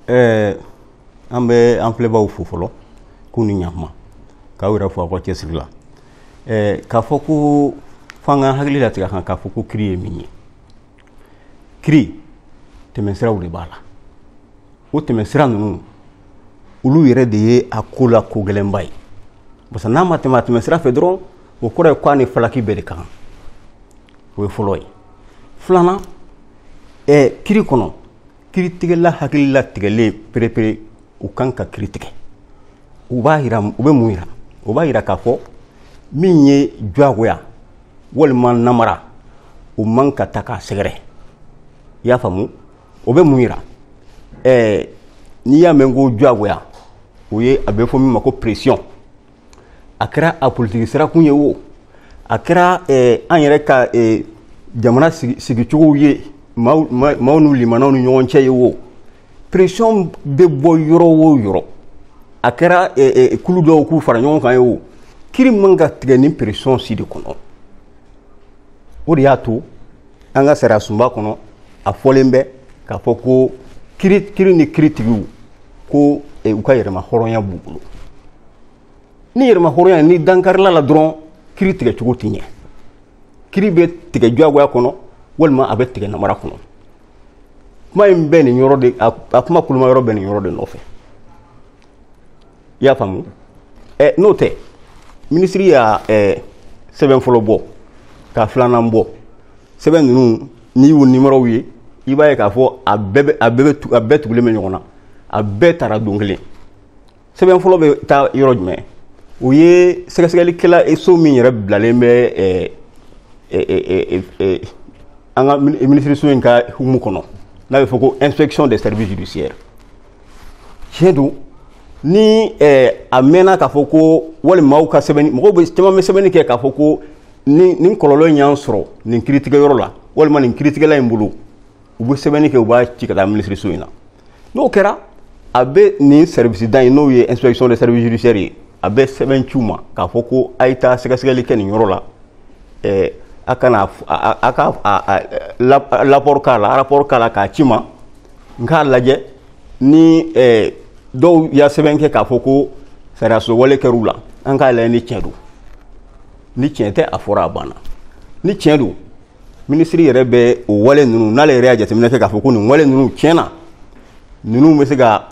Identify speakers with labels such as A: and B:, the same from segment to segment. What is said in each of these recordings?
A: ɛɛ an bɛ an filɛbaaw fo fɔlɔ k'u ni ɲakuma k'aw yɛrɛ fo aw ka cɛsiri la ɛɛ k'a fɔ ko f'an k'an hakili latigɛ a kan k'a fɔ ko kiri ye min ye kiri tɛmɛsiraw de b'a la o tɛmɛsira ninnu olu yɛrɛ de ye a ko la ko gɛlɛnba ye parce que n'a ma tɛmɛ a tɛmɛsira fɛ dɔrɔn o kɔrɔ ye k'a ni falaki bɛɛ de kan o ye fɔlɔ ye filanan ɛɛ kiri kɔnɔ kiritigɛla hakili latigɛlen perepere o kan ka kiri tigɛ o b'a yira o bɛ mun yira o b'a yira k'a fɔ min ye diyagoya walima namara o man ka taa k'a sɛgɛrɛ i y'a faamu o bɛ mun yira ɛɛ n'i y'a mɛn ko diyagoya o ye a bɛ fɔ min ma ko pression a kɛra a politiki sirakun ye o a kɛra eh, an yɛrɛ ka eh, jamana sigicogow ye maaw n'u limanaw ni ɲɔgɔn cɛ ye o pression bɛ bɔ yɔrɔ o yɔrɔ a kɛra eh, kulu dɔw k'u fara ɲɔgɔn kan ye o kiri man ka tigɛ nin pression si de kɔnɔ o de y'a to an ka sariyasunba kɔnɔ a fɔlen bɛ k'a fɔ ko kiri kiri ni kiritigiw ko eh, u ka yɛrɛma hɔrɔnya b'u bolo ni yɛrɛma hɔrɔnya nin dankarila la dɔrɔn kiri tigɛ cogo tɛ ɲɛ kiri bɛ tigɛ diyagoya kɔnɔ walima a bɛ tigɛ namara kɔnɔ kuma in bɛ nin yɔrɔ de a kuma koloma yɔrɔ bɛ nin yɔrɔ de nɔfɛ i y'a faamu ɛ n'o tɛ minisiri y'a ɛ sɛbɛn fɔlɔ bɔ ka filanan bɔ sɛbɛn ninnu n'i y'u nimɔrɔw ye i b'a ye k'a fɔ a bɛɛ bɛ a bɛɛ bɛ tu a bɛɛ tugulen bɛ ɲɔgɔn na a bɛɛ taara don kelen sɛbɛn fɔlɔ bɛ taa yɔrɔ jumɛn o ye sɛgɛsɛgɛlikɛla eh, so min yɛrɛ bilalen bɛ ɛɛ eh, ɛɛ eh, ɛɛ an ka minisiriso in ka hukumu kɔnɔ n'a bɛ fɔ ko inspection des services judiciaires tiɲɛ don ni eh, a mɛnna k'a fɔ ko walima aw ka sɛbɛnni mɔgɔw bɛ caman bɛ sɛbɛnni kɛ k'a fɔ ko ni nin kɔlɔlɔ in y'an sɔrɔ nin kiritigɛyɔrɔ la walima nin kiritigɛla in bolo u bɛ sɛbɛnni kɛ u b'a ci ka taa minisiriso in na n'o kɛra a bɛ nin sɛribisida in n'o ye inspection de service judiciaire ye a bɛ sɛbɛn ci u ma k'a fɔ ko a ye taa sɛgɛsɛgɛli kɛ nin yɔrɔ la eh, a ka na a ka rapɔri k'a la rapɔri k'a la k'a ci n ma n k'a lajɛ ni eh, dɔw y'a sɛbɛn kɛ k'a fɔ ko sariyaso wale kɛr'u la an k'a lajɛ ni tiɲɛ don ni tiɲɛ tɛ a fɔra a banna ni tiɲɛ don minisiri yɛrɛ bɛ o wale ninnu n'ale yɛrɛ y'a jateminɛ kɛ k'a fɔ ko nin wale ninnu tiɲɛ na ninnu bɛ se ka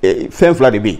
A: eh, fɛn fila de bɛ yen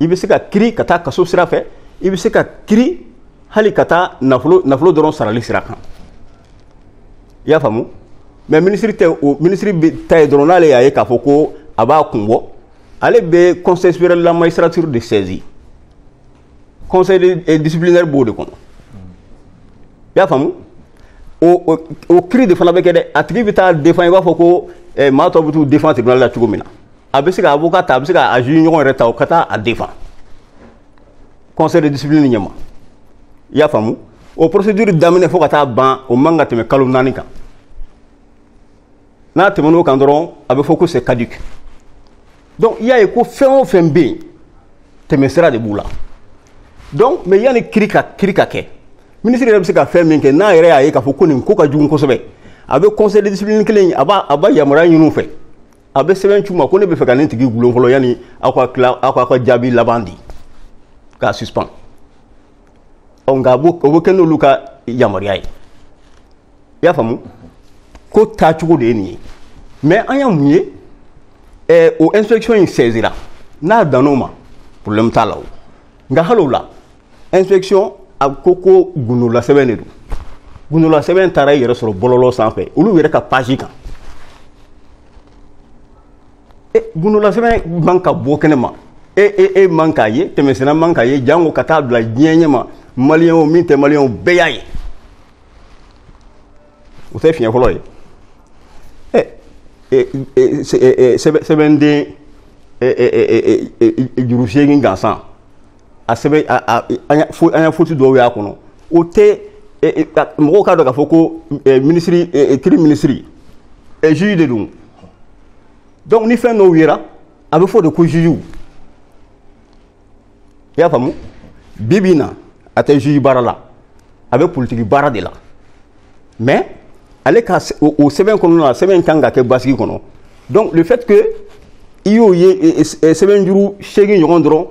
A: i bɛ se ka kiri ka taa kaso sira fɛ i bɛ se ka kiri hali ka taa nafolo nafolo dɔrɔn sarali sira kan i y'a faamu mais minisiri tɛ o minisiri ta ye dɔrɔn n'ale y'a ye k'a fɔ ko a b'a kun bɔ ale bɛ conseil supérieur de la magistrature de saisi conseil de eh, disciplinaire b'o de kɔnɔ i y'a faamu o o o kiri de fana bɛ kɛ dɛ a tigi bɛ taa défend i b'a fɔ ko eh, maa tɔw bɛ t'u défend tribunal la cogo min na a bɛ se ka avocat ta a bɛ se ka a juge ɲɔgɔn yɛrɛ ta o ka taa a défend conseil de discipline ɲɛma i y'a faamu o procédure daminɛ fo ka taa ban o man ka tɛmɛ kalo naani kan n'a tɛmɛn'o kan dɔrɔn a bɛ fɔ ko c'est caduc donc i y'a ye ko fɛn o fɛn bɛ yen tɛmɛsira de b'u la donc mais yanni kiri ka kiri ka kɛ minisiri yɛrɛ bɛ se ka fɛn min kɛ n'a yɛrɛ y'a ye k'a fɔ ko nin ko ka jugu kosɛbɛ a bɛ conseil de discipline kelen in a b'a a b'a yamaruya ɲini u fɛ a bɛ sɛbɛn ci u ma ko ne b'a fɛ ka nin tigi gulon fɔlɔ yanni aw ka tila aw k'aw ka jaabi laban di k'a suspend ɔ nka o bɛ kɛ n'olu ka yamaruya ye i y'a faamu ko taacogo de ye nin ye mais an ye mun ye ɛɛ o inspection in saisira n'a dann'o ma problème t'a la o nka hali o la inspection a ko ko gundolasɛbɛn de don gundolasɛbɛn taara i yɛrɛ sɔrɔ bɔlɔlɔ sanfɛ olu yɛrɛ ka page kan e gundolasɛbɛn man ka bɔ kɛnɛ ma e e e man k'a ye tɛmɛsenna man k'a ye jango ka taa bila diɲɛ ɲɛ ma maliyɛn o min tɛ maliyɛn o bɛɛ y'a ye o tɛ fiɲɛ fɔlɔ ye sɛbɛnden juru seegin gansan a sɛbɛn fo an ye faute dɔw y'a kɔnɔ o tɛ mɔgɔw k'a dɔn k'a fɔ ko minisiri kiri minisiri juge de don donc ni fɛn dɔw yera a bɛ fɔ de ko jugew i y'a faamu bi bi in na a tɛ juge baara la a bɛ politiki baara de la mais ale ka o sɛbɛn kɔnɔna na sɛbɛn kan ka kɛ basigi kɔnɔ donc le fait que i y'o ye sɛbɛn juru seegin ɲɔgɔn dɔrɔn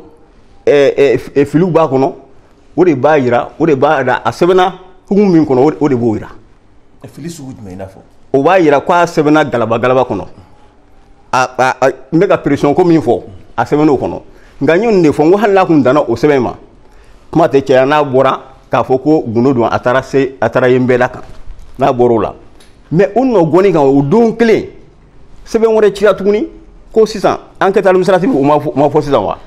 A: filiw b'a kɔnɔ o de b'a jira o de b'a jira a sɛbɛnna hukumu min kɔnɔ o de b'o jira fili sugu jumɛn i n'a fɔ o b'a jira k'a sɛbɛnna galaba galaba kɔnɔ n bɛ ka pression ko min fɔ a sɛbɛn'o kɔnɔ nka n ye nin de fɔ n ko hali n'a tun danna o sɛbɛn ma kuma tɛ caya n'a bɔra k'a fɔ ko gundo don a taara se a taara yen bɛɛ la kan n'a bɔr'o la mais o nɔ gɔni kan o don kelen sɛbɛn wɛrɛ cira tuguni ko sisan enquête administrative o ma fɔ sisan wa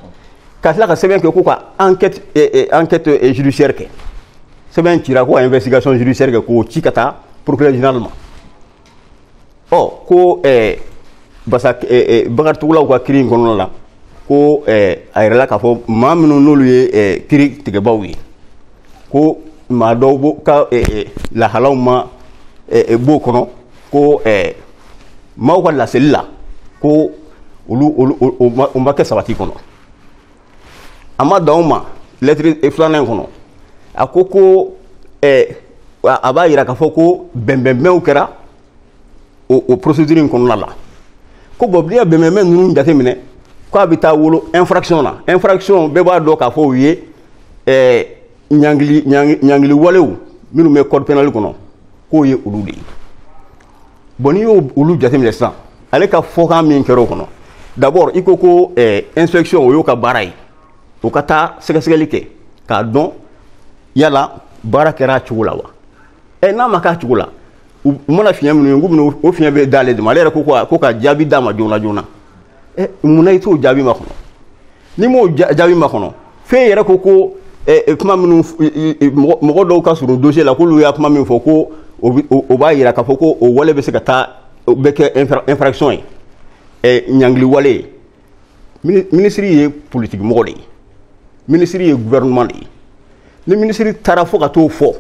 A: ka tila ka sɛbɛn kɛ ko ka enquête enquête judiciaire kɛ sɛbɛn cira ko ka investigation judiciaire kɛ k'o ci ka taa procureur général ma ɔ ko ɛɛ parce que ɛɛ Bakari Togolaw ka kiri in kɔnɔna la ko ɛɛ a yirala k'a fɔ maa minnu n'olu ye ɛɛ kiri tigɛbaaw ye ko maa dɔw b'o ka ɛɛ lahalaw ma ɛɛ b'o kɔnɔ ko ɛɛ maaw ka laseli la ko olu olu o ma kɛ sabati kɔnɔ. a ma dan o ma lɛtiri e filanan in kɔnɔ a ko ko ɛɛ a b'a yira k'a fɔ ko bɛnbɛnbɛnw kɛra o o procédure in kɔnɔna la ko bon n'i ye bɛnbɛnbɛn ninnu jateminɛ k'a bɛ taa wolo infraction na infraction bɛɛ b'a dɔn k'a fɔ u ye ɛɛ ɲangili ɲangili ɲangiliwalew minnu bɛ code pénal kɔnɔ k'o ye olu de ye. bon n'i y'olu jateminɛ sisan ale ka fɔkan min kɛra o kɔnɔ d'abord i ko ko eh, inspection o y'o ka baara ye o ka taa sɛgɛsɛgɛli kɛ k'a dɔn yala baara kɛra a cogo la wa ɛ eh, n'a ma k'a cogo la u mana fiɲɛ minnu ye k'u bɛna o fiɲɛ bɛɛ d'ale de ma ale yɛrɛ ko ko ka jaabi d'a ma joona joona ɛ eh, mun na i t'o jaabi makɔnɔ n'i m'o jaabi makɔnɔ f'e yɛrɛ ko ko eh, eh, kuma minnu eh, mɔgɔ dɔw ka surun dossier la k'olu ye kuma min fɔ ko o b'a yira k'a fɔ ko o wale bɛ se ka taa o bɛ kɛ infraction ye ɲangili wale ye minisiri ye politiki mɔgɔ de ye minisiri ye gouvernement de ye ni minisiri taara fo ka t'o fɔ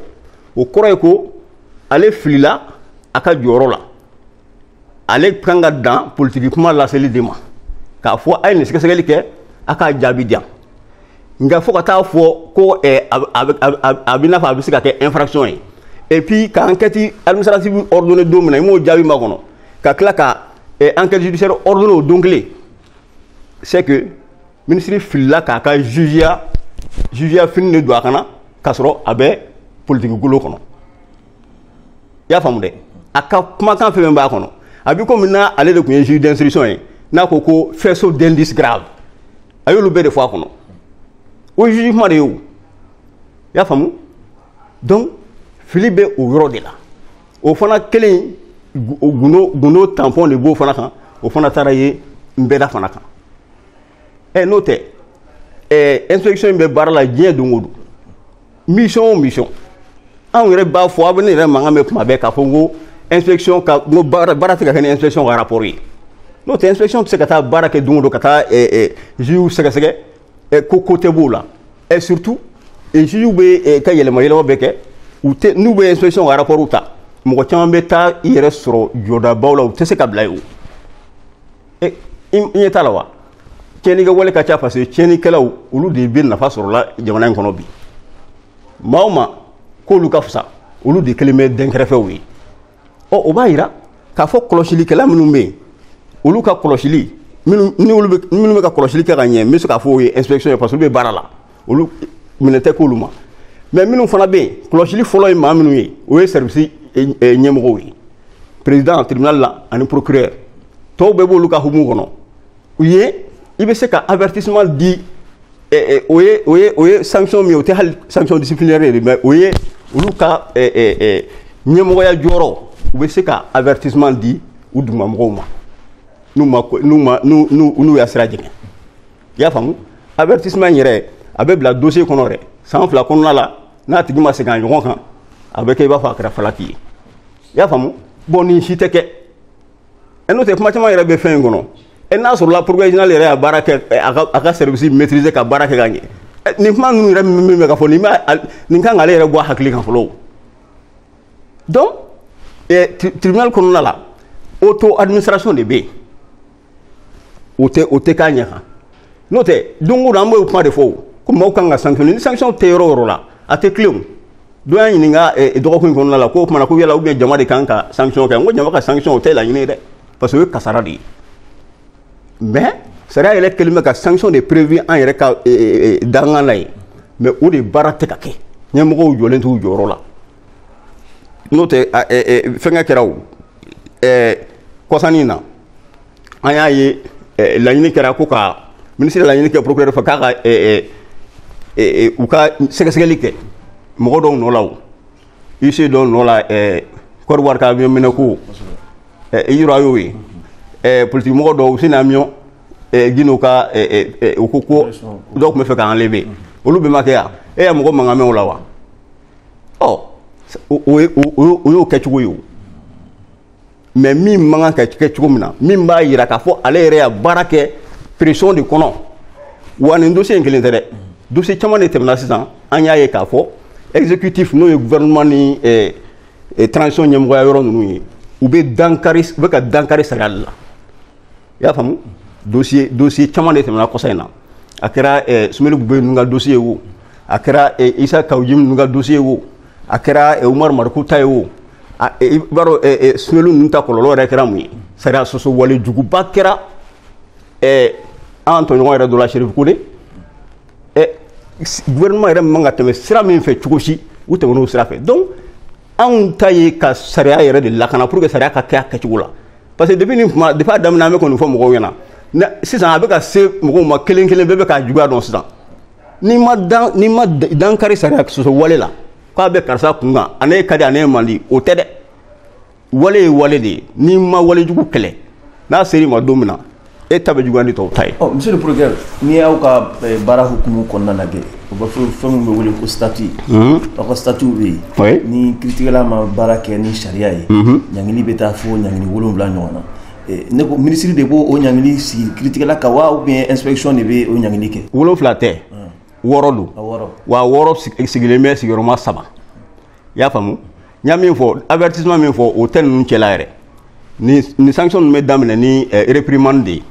A: o kɔrɔ ye ko ale filila a ka jɔyɔrɔ la ale kan ka dan politiki kuma laseli de ma k'a fɔ a ye nin sɛgɛsɛgɛli kɛ a k'a jaabi di yan nka fo ka t'a fɔ ko eh, a b'i n'a fɔ a bɛ se ka kɛ infraction ye et puis ka enquête administrative ordonné don min na i m'o jaabi makɔnɔ ka tila ka eh, enquête judiciaire ordonné o don kelen c'est que ministre filila k'a ka jugeya jugeya fini de don a kan na k'a sɔrɔ a bɛ politiki golo kɔnɔ i y'a faamu dɛ a ka kumakan fɛn fɛn b'a kɔnɔ a bɛ komi n'ale de tun ye juge d'instruction ye n'a ko ko faisceau d'indices graves a y'olu bɛɛ de fɔ a kɔnɔ o ye juge kuma de ye o i y'a faamu donc fili bɛ o yɔrɔ de la o fana kelen gundo gundo tanpɔn de b'o fana kan o fana taara ye nbɛda fana kan ɛ n'o tɛ ɛ inspection in bɛ baara la diɲɛ don o don mission o mission anw yɛrɛ b'a fɔ aw bɛ ne yɛrɛ mankan mɛn tuma bɛɛ k'a fɔ n ko inspection ka n ko baara baara tɛ ka kɛ ni inspection ka rapport ye n'o tɛ inspection tɛ se ka taa baara kɛ don o don ka taa jugew sɛgɛsɛgɛ ko ko tɛ b'o la et surtout jugew bɛ ka yɛlɛma yɛlɛma bɛɛ kɛ u tɛ n'u bɛ inspection ka rapport ta mɔgɔ caman bɛ taa i yɛrɛ sɔrɔ jɔdabaw la u tɛ se ka bila yen o e i ɲɛ t'a la wa tiɲɛni kɛwale ka ca parce que tiɲɛnikɛlaw olu de bɛ nafa sɔrɔ la jamana in kɔnɔ bi maa o maa k'olu ka fisa olu de kɛlen bɛ dɛnkɛrɛfɛw ye ɔ o b'a yira k'a fɔ kɔlɔsilikɛla minnu bɛ yen olu ka kɔlɔsili minnu bɛ ka kɔlɔsili kɛ ka ɲɛ n bɛ se k'a fɔ o ye inspection ye parce que olu bɛ baara la olu minɛ tɛ k'olu ma mais minnu fana bɛ yen kɔlɔsili fɔlɔ ye maa minnu ye o ye sɛribisi ɲɛmɔgɔw ye perezidan tribunali la ani procureur tɔw bɛɛ b'olu ka hukumu kɔnɔ u ye i bɛ se ka avertissement di o ye o ye o ye sanction min ye o tɛ hali sanction disciplinaire ye mais o ye olu ka ɲɛmɔgɔya jɔyɔrɔ u bɛ se ka avertissement di u dugumamɔgɔw ma n'u ma n'u ma n'u n'u y'a sira jɛngɛ i y'a faamu avertissement in yɛrɛ a bɛ bila dossier kɔnɔ yɛrɛ san fila kɔnɔna la n'a tigi ma segin a ɲɔgɔn kan a bɛ kɛ i b'a fɔ a kɛra falaki ye i y'a faamu bon nin si tɛ kɛ ɛ n'o tɛ kuma caman yɛrɛ bɛ fɛn in kɔnɔ ɛ n'a sɔrɔla professionnel yɛrɛ y'a baara kɛ a ka a ka service maîtriser ka baara kɛ ka ɲɛ nin kuma ninnu yɛrɛ min bɛ ka fɔ nin b'a nin kan k'ale yɛrɛ bɔ a hakili kan fɔlɔ donc tribunal kɔnɔna la auto administration de bɛ yen o tɛ o tɛ k'a ɲɛ kan n'o tɛ don o don an b'o kuma de fɔ o ko maaw kan ka sankisiɔn ni sankisiɔn tɛ yɔrɔ o yɔrɔ la a tɛ tilen o dɔ y'a ɲininka eh, eh, dɔgɔkun in kɔnɔna la k'o kumana ko yala ou bien jama de kan ka sankisiɔn kɛ n ko jama ka sankisiɔn o tɛ laɲini ye dɛ parce que o ye kasara de ye mais sariya yɛrɛ kɛlen bɛ ka sankisiɔn de prévu an yɛrɛ ka eh, dankan na ye mais o de baara tɛ ka kɛ ɲɛmɔgɔw jɔlen t'u jɔyɔrɔ la n'o tɛ fɛnkɛ kɛra o kɔsa in na an y'a ye laɲini kɛra ko ka minisiri laɲini kɛ procureur fɛ k'a ka u ka sɛgɛsɛgɛli kɛ mɔgɔ dɔw nɔ la o huissier dɔw nɔ la Côte d'Ivoire ka avion minɛ ko in yɔrɔ a y'o ye politiki mɔgɔ dɔw useni amiyɔn gindo ka u ko ko dɔw tun b'a fɛ k'a enlever olu bɛɛ ma kɛ yan e ye mɔgɔ mankan mɛn o la wa ɔ o ye o y'o kɛcogo ye o mais min man kan ka kɛ cogo min na min b'a yira k'a fɔ ale yɛrɛ y'a baara kɛ pression de kɔnɔ wa nin dossier in kelen tɛ dɛ dossier caman de tɛmɛna sisan an y'a ye k'a fɔ exécutif n'o ye gouvernement ni eh, eh, transition ɲɛmɔgɔya yɔrɔ ninnu ye u bɛ dankari u bɛ ka dankari sariya de la i y'a faamu dossier dossier caman de tɛmɛna kɔsa in na a kɛra eh, sumeyilu bubɛyi ninnu ka dossier ye o a kɛra eh, isa kawu jim ninnu ka dossier ye o a kɛra eh, umaru mariko ta ye o a- eh, i b'a dɔn eh, eh, sumeyilu ninnu ta kɔlɔlɔ yɛrɛ kɛra mun ye sariya sɔsɔ wale juguba kɛra eh, an tɔɲɔgɔn yɛrɛ dɔ la sherif kone eh, s- gouvernement yɛrɛ man ka tɛmɛ sira min fɛ cogo si u tɛmɛn'o sira fɛ donc anw ta ye ka sariya yɛrɛ de lakana pour que sariya ka kɛ a kɛcogo la parce que depuis nin kuma depuis a daminɛ an bɛ ko nin fɔ mɔgɔw ɲɛna ne sisan a bɛ ka se mɔgɔw ma kelen kelen bɛɛ bɛ k'a juguya dɔn sisan n'i ma dan n'i ma dankari sariya sɔsɔ wale la k'a bɛ karisa kun kan a n'e ka di a n'e man di o tɛ dɛ wale ye wale de ye n'i ma wale jugu kɛlɛ n'a ser'i ma don min na e ta bɛ juguya ni tɔw ta ye ɔ monsieur le procureur n'i y'aw ka eh, baara hukumu kɔnɔna lajɛ o bɛ fɔ fɛn min bɛ wele ko statut mhm. aw ka statut bɛ yen oui. ni kiritigɛla ma baara kɛ ni sariya ye mhm. ɲangili bɛ taa fo ɲangili wolonwula ɲɔgɔn na eh, ne ko minisiri de b'o o ɲangili sigi kiritigɛla kan wa ou bien inspection de bɛ o ɲangili kɛ wolonwula tɛ wɔɔrɔ don wa wɔɔrɔ sigilen bɛ sigiyɔrɔma saba i y'a faamu n y'a min fɔ avertissement min fɔ o tɛ ninnu cɛla yɛrɛ ni ni sanction ninnu bɛ daminɛ ni eh, réprimande de ye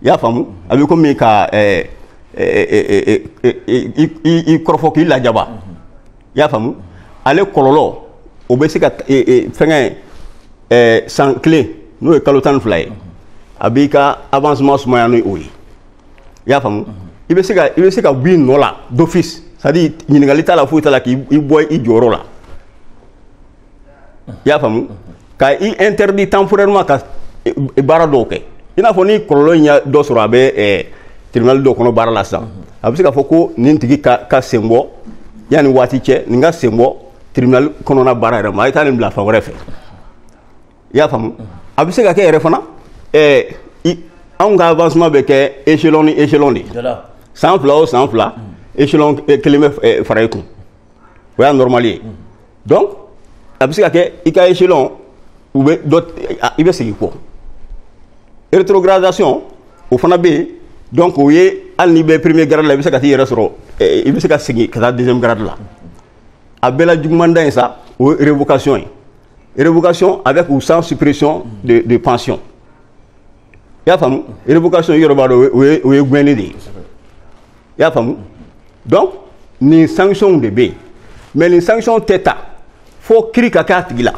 A: i y'a faamu a bɛ komi ka eh, eh, i kɔrɔfɔ k'i lajaba i y'a faamu ale kɔlɔlɔ o bɛ se ka fɛngɛ san kelen n'o ye kalo tan ni fila ye a b'i ka avancement sumaya ni o ye i y'a faamu i bɛ se ka i bɛ se ka bɔ i nɔ la d'office c'est à dire ɲininkali t'a la foyi t'a la k'i i bɔ i jɔyɔrɔ la i y'a faamu ka i interdit temporairement ka baara dɔw kɛ i n'a fɔ ni kɔlɔlɔ in ye dɔ sɔrɔ a bɛ eh, tribunal dɔ kɔnɔ baara la sisan a bɛ se k'a fɔ ko nin tigi ka k'a sen bɔ yanni waati cɛ nin k'a sen bɔ tribunal kɔnɔna baara yɛrɛ ma a ye taa nin bila fan wɛrɛ fɛ i y'a faamu a bɛ se ka kɛ yɛrɛ fana ɛɛ i anw ka avancement bɛ kɛ échelon ni échelon de ye san fila o san fila échelon kelen bɛ fara i kan o y'a normal ye donc a bɛ se ka kɛ i ka échelon u bɛ dɔ i bɛ segin kɔ rétrogradation o fana bɛ yen donc o ye hali n'i bɛ premier grade la i bɛ se ka t'i yɛrɛ sɔrɔ i bɛ se ka segin ka taa deuxième grade la a bɛɛ la juguman dan in sa o ye révocation ye révocation avec ou sans suppression de, de pension i y'a faamu révocation yɔrɔ b'a dɔn o ye o ye gɛnni de ye i y'a faamu donc nin sanctions de bɛ yen mais nin sanctions tɛ ta fo kiri ka kɛ a tigi la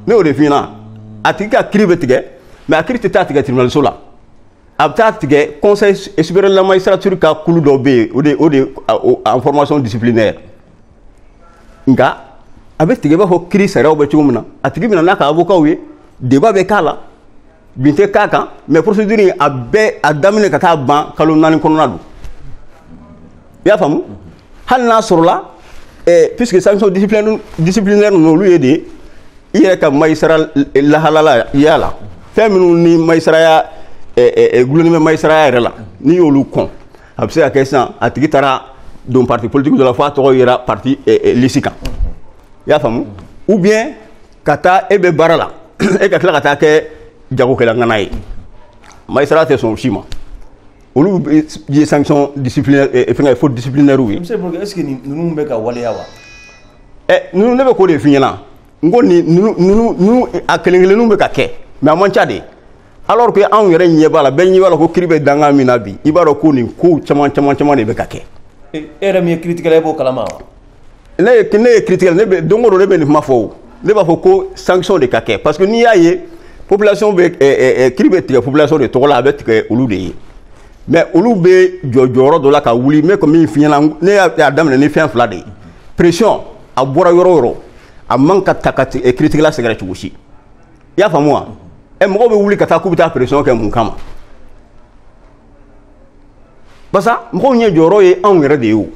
A: ne y'o de f'i ɲɛna a tigi ka kiri bɛ tigɛ mais a kiri tɛ taa tigɛ tribunaliso la a bɛ taa tigɛ conseil supérieur de la magistrature ka kulu dɔ bɛ yen o de o de en formation disciplinaire nka a bɛ tigɛ i b'a fɔ kiri sariyaw bɛ cogo min na a tigi bɛ na n'a ka avokaw ye débat bɛ k'a la bin tɛ k'a kan mais procédure in a bɛɛ a daminɛ ka taa ban kalo naani kɔnɔna don i y'a faamu hali n'a sɔrɔla eh, puisque sanction disciplinaire disciplinaire ninnu olu ye de ye i yɛrɛ ka magistrat lahalaya la fɛn minnu ni magistratya eh, eh, eh, dulonnen bɛ magistratya yɛrɛ la n'i y'olu kɔn a bɛ se ka kɛ sisan a tigi taara don parti politique dɔ la fo a tɔgɔ yera parti eh, eh, lisi kan i y'a faamu ou bien ka taa e bɛ baara la e ka tila ka taa kɛ jagokɛla ŋana ye magistrat tɛ sɔn o si ma olu ye sanction disciplinaire eh, fɛngɛ faute disciplinaire ye. monsieur Bourg est ce que ninnu bɛ ka waleya wa. ɛ ninnu ne bɛ k'o de f'i ɲɛna n ko nin ninnu ninnu ninnu a kelen kelenninw bɛ ka kɛ mais a man ca dɛ. alors que anw yɛrɛ ɲɛ b'a la bɛɛ ɲɛ b'a la ko kiri bɛ dakun min na bi i b'a dɔn ko nin kow caman caman caman de bɛ ka kɛ. e yɛrɛ min ye kiritigɛla e b'o kalama wa. ne ye ne ye kiritigɛla ne bɛ don o don ne bɛ nin kuma fɔ o ne b'a fɔ ko sanction de ka kɛ parce que n'i y'a ye population bɛ ɛ ɛ kiri bɛ tigɛ population de tɔgɔ la a bɛ tigɛ olu de ye mais olu bɛ jɔ jɔyɔrɔ dɔ la ka wuli n bɛ ka min f'i ɲɛna ne y'a daminɛ ni fɛn fila de ye pression a bɔra yɔrɔ o yɔrɔ a man ka taa ka kiritigɛla sɛgɛrɛ cogo si. i y'a faamu wa ɛ mɔgɔw bɛ wuli ka taa k'u bɛ taa pression kɛ mun kama parce que mɔgɔw ɲɛ jɔyɔrɔ ye anw yɛrɛ de ye o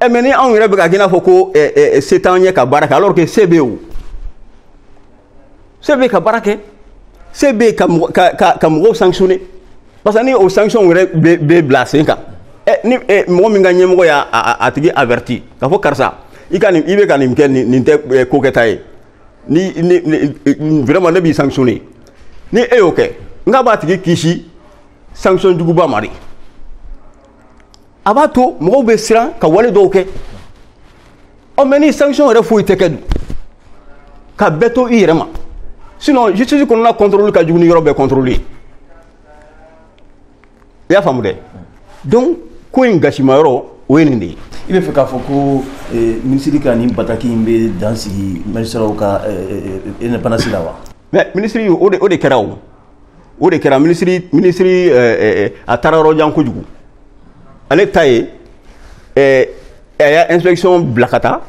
A: ɛ mais ni anw yɛrɛ bɛ ka kɛ i n'a fɔ ko ɛ ɛ se t'an ye ka baara kɛ alors que se bɛ o se bɛ ka baara kɛ se bɛ ka ka ka ka mɔgɔw sanctionner parce que ni o sanction yɛrɛ bɛ bɛ bila sen kan ɛ ni ɛ mɔgɔ min ka ɲɛmɔgɔ y'a a tigi averti k'a fɔ karisa i ka nin i bɛ ka nin kɛ nin nin tɛ ko kɛta ye. ni ni vraiment ne b'i sanctionner ni e y'o kɛ n k'a b'a tigi kisi sanction juguba ma dɛ a b'a to mɔgɔw bɛ siran ka wale dɔw kɛ ɔ mais ni sanction yɛrɛ foyi tɛ kɛ dun ka bɛɛ to i yɛrɛ ma sinon justice kɔnɔna contrôle ka jugu ni yɔrɔ bɛɛ contrôle ye i y'a faamu dɛ donc ko in gasima yɔrɔ o ye nin de ye i b'a fɛ k'a fɔ ko eh, minisiri ka nin bataki in bɛ dan sigi magistratw ka indépendance eh, eh, la wa mais minisiri o de o de kɛra o o de kɛra minisiri minisiri a taara yɔrɔ jan kojugu ale ta ye a y'a inspection bila ka taa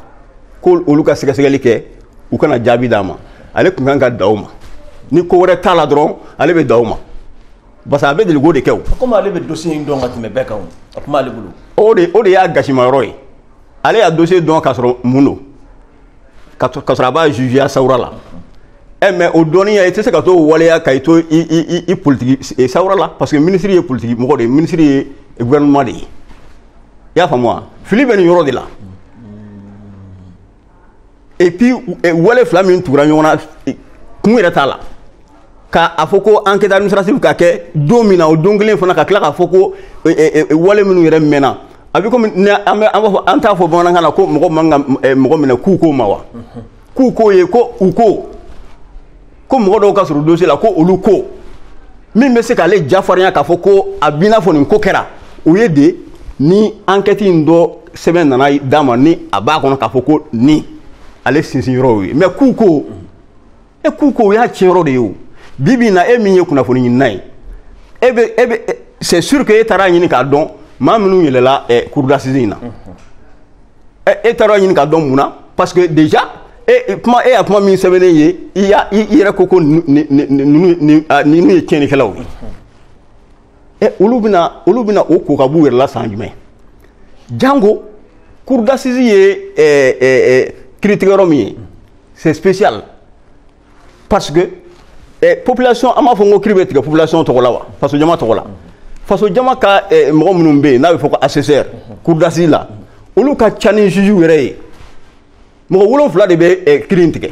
A: ko olu ka sɛgɛsɛgɛli kɛ u ka na jaabi d'a ma ale tun kan ka dan o ma ni ko wɛrɛ t'a la dɔrɔn ale bɛ dan o ma parce que a bɛ deliko de kɛ o. komi ale bɛ dossier in dɔn ka tɛmɛ bɛɛ kan o a kuma ale bolo. o de o de y'a gasimayɔrɔ ye ale y'a dossier dɔn k'a sɔrɔ mun don ka sɔrɔ a b'a jugeya sawura la ɛ eh, mais o dɔnniya i tɛ se ka t'o waleya ka i to i i i politiki eh, sawura la parce que minisiri ye politiki mɔgɔ de ye minisiri ye gouvernement de ye i y'a faamu wa fili bɛ nin yɔrɔ de la. et puis eh, wale fila min tugura ɲɔgɔn na eh, kun yɛrɛ t'a la ka a fɔ ko enquête administrative ka kɛ don min na o don kelen fana ka tila k'a fɔ ko eh, wale minnu yɛrɛ mɛnna a bɛ komi an bɛ an b'a fɔ an t'a fɔ bamanankan na ko mɔgɔ man ka mɔgɔ minɛ k'u ko ma wa k'u ko ye ko u ko ko mɔgɔ dɔw ka surun dossier la ko olu ko min bɛ se k'ale jafarinya k'a fɔ ko a b'i n'a fɔ nin ko kɛra o ye de ni ankɛti in dɔ sɛbɛn nana d'a ma ni a b'a kɔnɔ k'a fɔ ko nin ale sinsinyɔrɔw ye mais k'u ko e k'u ko o y'a tiɲɛ yɔrɔ de ye o bi bi in na e min ye kunnafoni ɲinina ye e bɛ e bɛ c'est sûr que e taara a ɲini k'a dɔn maa minnu yɛlɛla ɛ cour d'assises in na. e taara ɲini k'a dɔn mun na parce que déjà e kuma e y'a kuma min sɛbɛnnen ye i y'a i yɛrɛ ko ko ninnu ninnu ye tiɲɛnikɛlaw ye ɛ olu bɛna olu bɛna o ko ka b'u yɛrɛ la san jumɛn jango cour d'assises ye ɛɛ ɛɛ kiritigɛyɔrɔ min ye c'est spécial parce que eh, population an b'a fɔ ko kiri bɛ tigɛ population tɔgɔ la wa faso jama tɔgɔ la faso jama ka eh, mɔgɔ minnu bɛ yen n'a bɛ fɔ ko assesseur cour d'assises la olu ka ca ni juge yɛrɛ ye mɔgɔ wolonfila de bɛ eh, kiri in tigɛ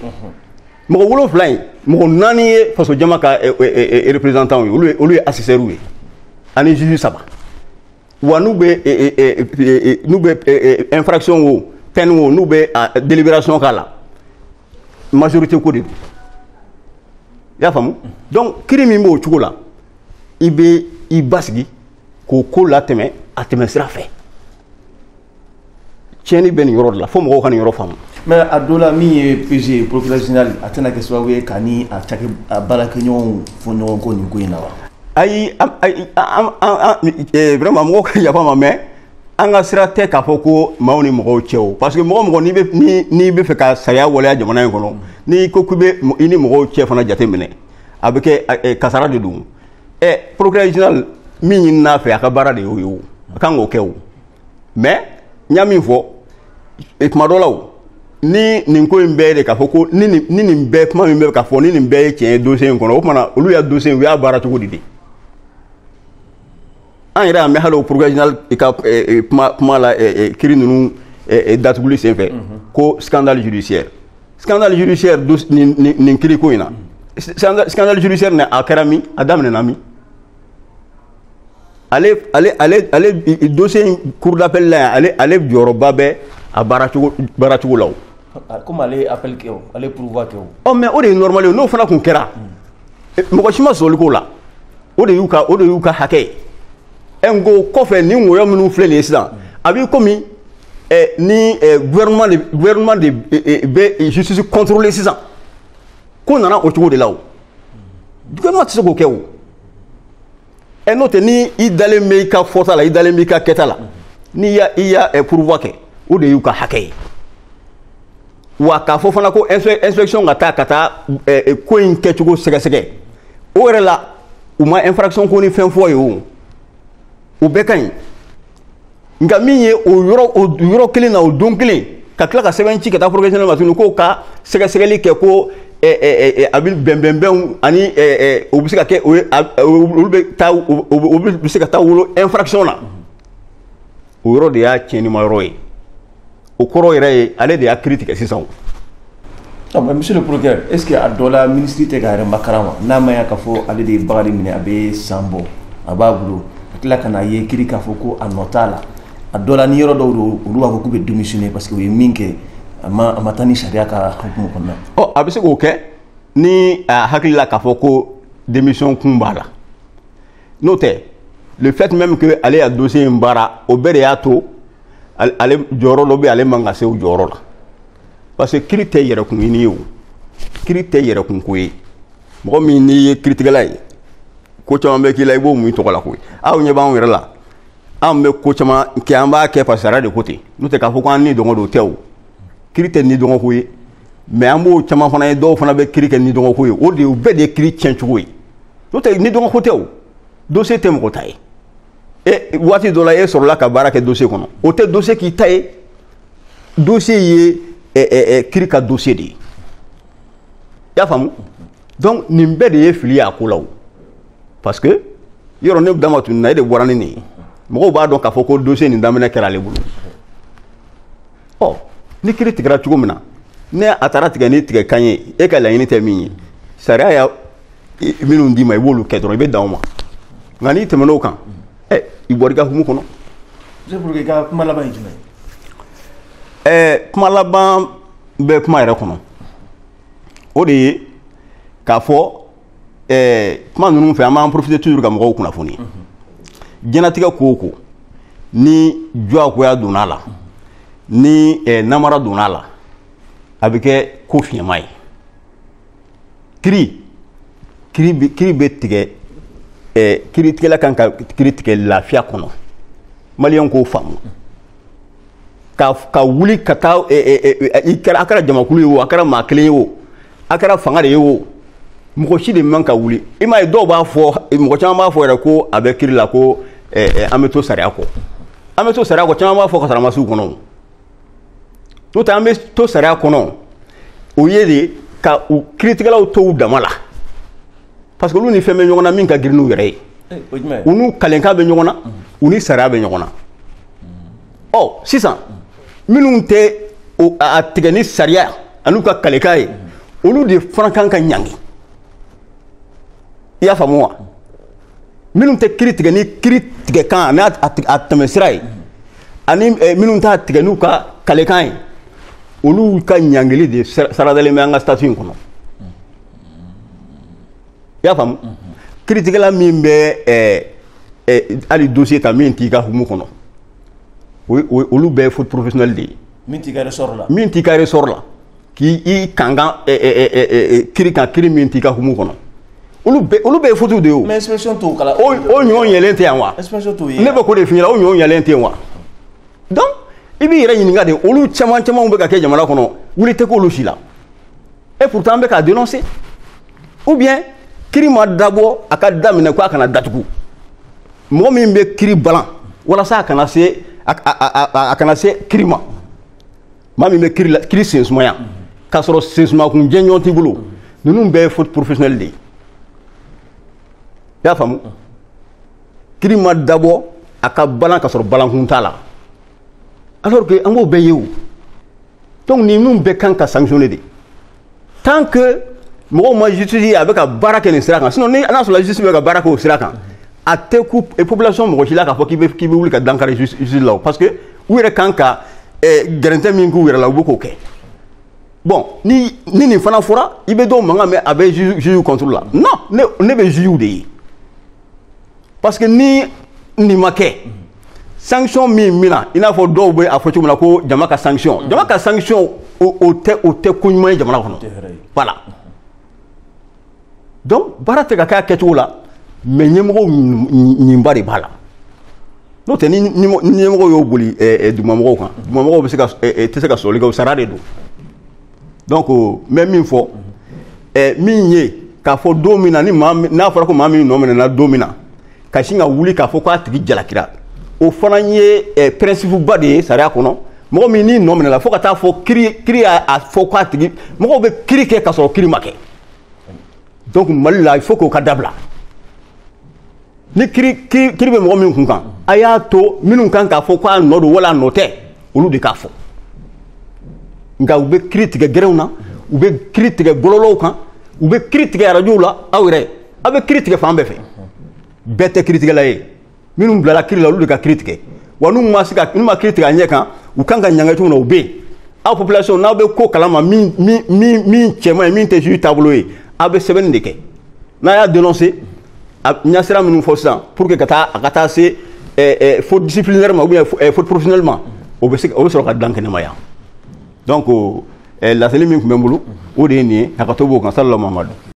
A: mɔgɔ wolonfila in mɔgɔ naani ye faso jama ka eh, eh, eh, représentant ye olu ye olu ye assesseurw ye ani juge saba wa n'u bɛ eh, eh, eh, eh, eh, n'u bɛ eh, eh, infraction wo peine wo n'u bɛ ah, délibération k'a la majorité ko de don i y'a faamu donc kiri min b'o cogo la i bɛ i basigi k'o ko latɛmɛ a tɛmɛsira fɛ tiɲɛni bɛ nin yɔrɔ de la fo mɔgɔw ka nin yɔrɔ faamu mais a dɔ la min ye pg ye procureur général a tɛna kɛ sababu ye k'a ni a cakɛ a baarakɛɲɔgɔnw fɔ ɲɔgɔn kɔ nin ko in na wa ayi vraiment mɔgɔw ka yafa n ma mais an ka sira tɛ k'a fɔ ko maaw ni mɔgɔw cɛ o parce que mɔgɔ mɔgɔ n'i bɛ ni n'i bɛ fɛ ka sariya waleya jamana in kɔnɔ n'i ko k'i bɛ i ni mɔgɔw cɛ fana jateminɛ a bɛ kɛ kasara de don ɛ procureur général min ɲinin'a fɛ a ka baara de y'o ye o a kan k'o kɛ o mais n y'a min fɔ tuma dɔ la o ni nin ko in bɛɛ de k'a fɔ ko ni nin ni nin bɛɛ kuma min bɛ ka fɔ ni nin bɛɛ ye tiɲɛ ye dossier in kɔnɔ o tuma na olu y'a dossier u y'a baara cogo di de an yɛrɛ y'a mɛn hali o procureur général ka kuma la kiri ninnu datuguli senfɛ ko scandale judiciaire scandale judiciaire nin kiri ko in na scandale judiciaire nin a kɛra min a daminɛna min ale ale ale ale dossier in cour d'appel la yan ale ale jɔyɔrɔba bɛ a baara cogo baara cogo la o komi ale ye appel kɛ o ale ye pourvoi kɛ o ɔ mais o de ye normal ye n'o fana tun kɛra mɔgɔ si ma sɔsɔli k'o la o de y'u ka o de y'u ka hakɛ ye ɛ n ko kɔfɛ ni woyo minnu filɛ nin ye sisan a b'i komi ɛ ni ɛ gouvernement de gouvernement de ɛ bɛ justice contrôler sisan ko nana o cogo de la o gouvernement tɛ se k'o kɛ o. ɛ n'o tɛ ni i dalen bɛ i ka fɔta la i dalen b'i ka kɛta la n'i y'a i y'a ɛ pourvoi kɛ o de y'u ka hakɛ ye wa k'a fɔ fana ko inspection ka taa ka taa ɛ ko in kɛcogo sɛgɛsɛgɛ o yɛrɛ la u ma infraction ko ni fɛn fɔ ye o o bɛɛ ka ɲi nka min ye o yɔrɔ o yɔrɔ kelen na o don kelen ka tila ka sɛbɛn ci ka taa parquet général ma tuguni k'o ka sɛgɛsɛgɛli kɛ ko a bɛ bɛnbɛnbɛnw ani o bɛ se ka kɛ o ye olu bɛ taa o bɛ se ka taa wolo infraction na o yɔrɔ de y'a tiɲɛnima yɔrɔ ye o kɔrɔ yɛrɛ ye ale de y'a kiri tigɛ sisan ah, monsieur le procureur est ce que a dɔ la minisiri tɛ k'a yɛrɛ makaran wa n'a ma ya k'a fɔ ale de ye Bakari minɛ a bɛ san bɔ a b'a bolo a tila ka na ye kiri k'a fɔ ko a nɔ t'a la a dɔ la ni yɔrɔ dɔw don olu b'a fɔ k'u bɛ démissionner parce que u ye min kɛ a ma a ma taa ni sariya ka hukumu kɔnɔna ɔ a bɛ se k'o kɛ ni a hakili la k'a fɔ ko démission kun b'a la n'o tɛ le fait même que ale y'a dossier in baara o bɛɛ de y'a to ale jɔyɔrɔ dɔ bɛ ale man ka se o jɔyɔrɔ la parce que kiri tɛ yɛrɛkun ɲini ye o kiri tɛ yɛrɛkun ko ye mɔgɔ min n'i ye kiritigɛla ye ko caman bɛ k'i la i b'o mun i tɔgɔ la koyi aw ɲɛ b'anw yɛrɛ la anw bɛ ko caman kɛ an b'a kɛ parce que sariya de ko ten n'o tɛ k'a fɔ ko an nidungɔ don o tɛ o kiri tɛ nidungɔko ye mais an b'o caman fana ye dɔw fana bɛ kiri kɛ nidungɔko ye o de ye o bɛɛ de ye kiri tiɲɛ cogo ye n'o tɛ nidungɔko tɛ o dossier tɛ mɔgɔ ta ye e waati dɔ la e sɔrɔla ka baara kɛ dossier kɔnɔ o tɛ dossier k'i ta ye dossier ye ɛ ɛ ɛ kiri ka dossier de ye i y'a faamu donc nin bɛɛ de ye fili y'a ko la o parce que yɔrɔ ne dama tununna e de bɔra ni nin ye mɔgɔw b'a dɔn k'a fɔ ko dossier nin daminɛ kɛra ale bolo ɔ ni kiri tigɛra cogo min na ni a taara tigɛ ni tigɛ kan ye e ka laɲini tɛ min ye sariya y'a minnu d'i ma i b'olu kɛ dɔrɔn i bɛ dan o ma nka n'i tɛmɛn'o kan ɛ i bɔra i ka hukumu kɔnɔ. monsieur le procureur i ka kuma laban ye jumɛn ye. ɛɛ kuma laban bɛ kuma yɛrɛ kɔnɔ o de ye k'a fɔ. ɛɛ kuma ninnu fɛ an b'an profiter toujours ka mɔgɔw kunnafoni diɲɛnatigɛ ko o ko ni juguya donna a la ni eh, namara donna a la a bɛ kɛ ko fiɲɛma ye kiri kiri bɛ kiri bɛ tigɛ eh, kiritigɛla kan ka kiri tigɛ lafiya kɔnɔ maliyɛn k'o faamu ka ka wuli ka taa eh, eh, eh, i kɛra a kɛra jamakulu ye o a kɛra maa kelen ye o a kɛra fanga de ye o mɔgɔ si de man ka wuli i m'a ye dɔw b'a fɔ mɔgɔ caman b'a fɔ yɛrɛ ko a bɛ kiri la ko eh, eh, an bɛ to sariya kɔ an bɛ to sariya kɔ caman b'a fɔ kasaramasiw kɔnɔ o n'o tɛ an bɛ to sariya kɔnɔ o ye de ka u kiritigɛlaw to u dama la parce que olu ni fɛn bɛ ɲɔgɔn na min ka girin n'u yɛrɛ ye eh, u n'u kalenkan bɛ ɲɔgɔn na u ni sariya bɛ ɲɔgɔn na ɔ sisan minnu tɛ a tigɛ ni sariya an'u ka kalekan ye olu de fana kan ka ɲangi i y'a faamu wa minnu tɛ kiri tigɛ ni kiri tigɛkan ani a tɛmɛsira ye ani eh, minnu t'a tigɛ n'u ka kalekan ye olu ka ɲangili de saradalen bɛ an ka statut in kɔnɔ i y'a faamu kiritigɛla min bɛ eh, eh, hali dossier ta min t'i ka hukumu kɔnɔ olu bɛɛ ye faute professionnelle de ye min t'i ka ressort la min t'i ka ressort la k'i i kankan eh, eh, eh, eh, eh, kiri kan kiri min t'i ka hukumu kɔnɔ olu bɛɛ olu bɛɛ ye faute de ye o mais inspection t'o kalama o ɲɔgɔn yelen tɛ yan wa inspection t'o ye ne bɛ k'o de f'i ɲɛna o ɲɔgɔn yelen tɛ yen wa donc i b'i yɛrɛ ɲininka de olu caman camanw bɛ ka kɛ jamana kɔnɔ wuli tɛ k'olu si la et pourtant an bɛ k'a dénoncer ou bien kiri ma dabɔ a ka daminɛ ko a kana datugu mɔgɔ min bɛ kiri balan walasa a kana se a kana se kiri ma maa min bɛ kiri la kiri sensumaya k'a sɔrɔ sensumakun jɔnjɔn t'i bolo ninnu bɛɛ ye faute professionnelle de ye i y'a faamu kiri ma dabɔ a ka balan k'a sɔrɔ balankun t'a la alors que an b'o bɛɛ ye o donc ninnu bɛɛ kan ka sanctionner de tant que mɔgɔw ma justice ye a bɛ ka baara kɛ nin sira kan sinon ni n'a sɔrɔ justice bɛ ka baara kɛ o sira kan a tɛ kun population mɔgɔ si la k'a fɔ k'i bɛ k'i bɛ wuli ka dankari justice la o parce que u yɛrɛ kan ka eh, gɛrɛntɛ min k'u yɛrɛ la u bɛ k'o kɛ bon ni ni nin fana fɔra i bɛ dɔw mankan mɛn a bɛ juge juge contre la non ne ne bɛ juge de ye. parce que ni nin ma kɛ sanction min bɛ na i n'a fɔ dɔw bɛ a fɔ cogo min na ko jama ka sanction mm. jama ka sanction o tɛ o tɛ ko ɲuman ye jamana kɔnɔ voilà donc baara tɛ ka kɛ a kɛcogo la mais ɲɛmɔgɔw ɲinba de b'a la n'o tɛ ni ɲɛmɔgɔ y'o boli eh, eh, dugumamɔgɔw kan dugumamɔgɔw bɛ se ka eh, tɛ se ka sɔsɔli kɛ o sara de don donc n bɛ min fɔ ɛ min ye k'a fɔ don min na ni maa n'a fɔra ko maa min nɔ minɛna don min na ka sin ka wuli k'a fɔ k'a tigi jalakira o fana ye ɛ principe ba de ye sariya kɔnɔ mɔgɔ min n'i nɔ minɛla fo ka taa fɔ kiri kiri y'a a fɔ k'a tigi mɔgɔw bɛ kiri kɛ k'a sɔrɔ kiri ma kɛ donc mali la il faut k'o ka dabila ni kiri kiri kiri bɛ mɔgɔ min kun kan a y'a to minnu kan k'a fɔ ko a nɔ don wala a nɔ tɛ olu de k'a fɔ nka u bɛ kiri tigɛ gɛrɛnw na u bɛ kiri tigɛ bɔlɔlɔw kan u bɛ kiri tigɛ arajow la aw yɛrɛ aw bɛ kiri tigɛ fan bɛɛ fɛ bɛɛ tɛ kiritigɛla ye minnu bilala kiri la olu de ka kiri tigɛ wa n'u ma se ka n'u ma kiri tigɛ a ɲɛ kan u kan ka ɲangi cogo min na o bɛ yen aw population n'aw bɛ ko kalama min min min min cɛ man ɲi min tɛ juge taabolo ye aw bɛ sɛbɛnni de kɛ n'a y'a dénoncer an ye sira minnu fɔ sisan pour que ka taa a ka taa se faute disciplinaire ma ou bien faute professionnelle ma o bɛ se o bɛ sɔrɔ ka dankɛnɛmaya donc laseli min tun bɛ n bolo o de ye nin ye hakɛto b'o kan salala mamadu